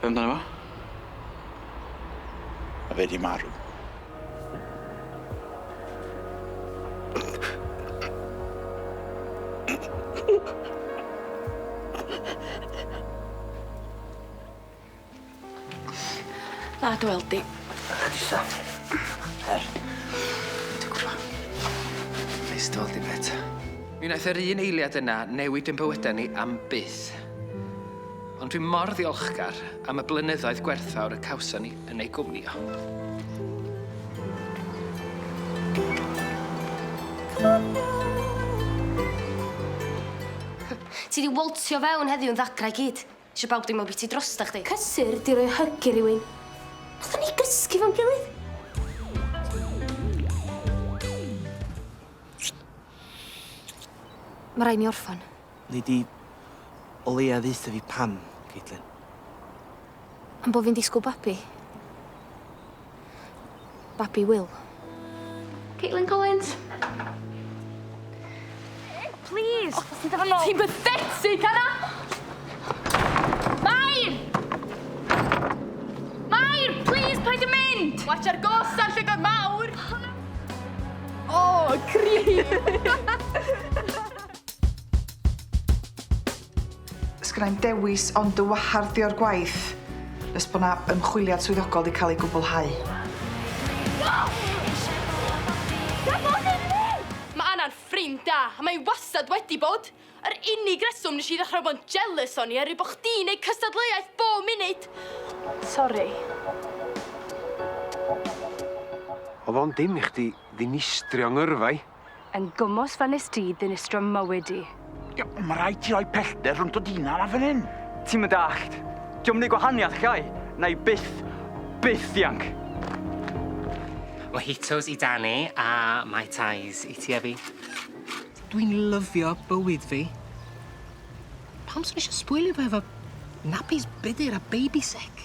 Be' amdano fo? Ma' fe 'di marw. Dda dy weld di. Croeso. Her. Dwi gwbo. Neis dy weld di mêt. Mi naeth yr un eiliad yna newid ein bywyda ni am byth. Ond dwi mor ddiolchgar am y blynyddoedd gwerthfawr y cawson ni yn ei gwmnïo. Ti di woltio fewn heddiw yn ddagra i gyd. Isio bawb deimlo biti drosta chdi. Cysur di roi hug i rywun. Nathon ni gysgu fo'n gilydd. Ma' rai' mi orffan. Nei di o leia ddeutha fi pam, Caitlin? Am bo' fi'n disgwl babi. Babi Wil. Caitlin Collins. Plîs! O, ti'n dod Ti'n bathetic, Anna! Mair! Mair, plîs, paid â mynd! Watch ar gos ar llygod mawr! O, creep! Sgynna i'm dewis ond dy wahardd di o'r gwaith nes bo' 'na ymchwiliad swyddogol 'di ca'l ei gwblhau. Ma' Anna'n ffrind da a mae 'i wastad wedi bod. Yr unig reswm nes i ddechra bo'n jealous o'n i oerwydd bo' chdi'n neud cystadleuaeth bo' munud. Sori. O'dd o'n dim i chdi ddinistrio 'ngyrfa i. Yn gwmws fel nes di ddinistrio mywyd i. Ie, ond ma raid ti roi pellter rhwng dod hunan a fan hyn. Ti'm yn dallt. Dio'm neu gwahaniath Cai. Nai byth, byth ddianc. Mojitos i Dani a Mai Tais i ti a fi. Dwi'n lyfio bywyd fi. Pam swn i isio sbwylio fo efo nappies budur a baby sick?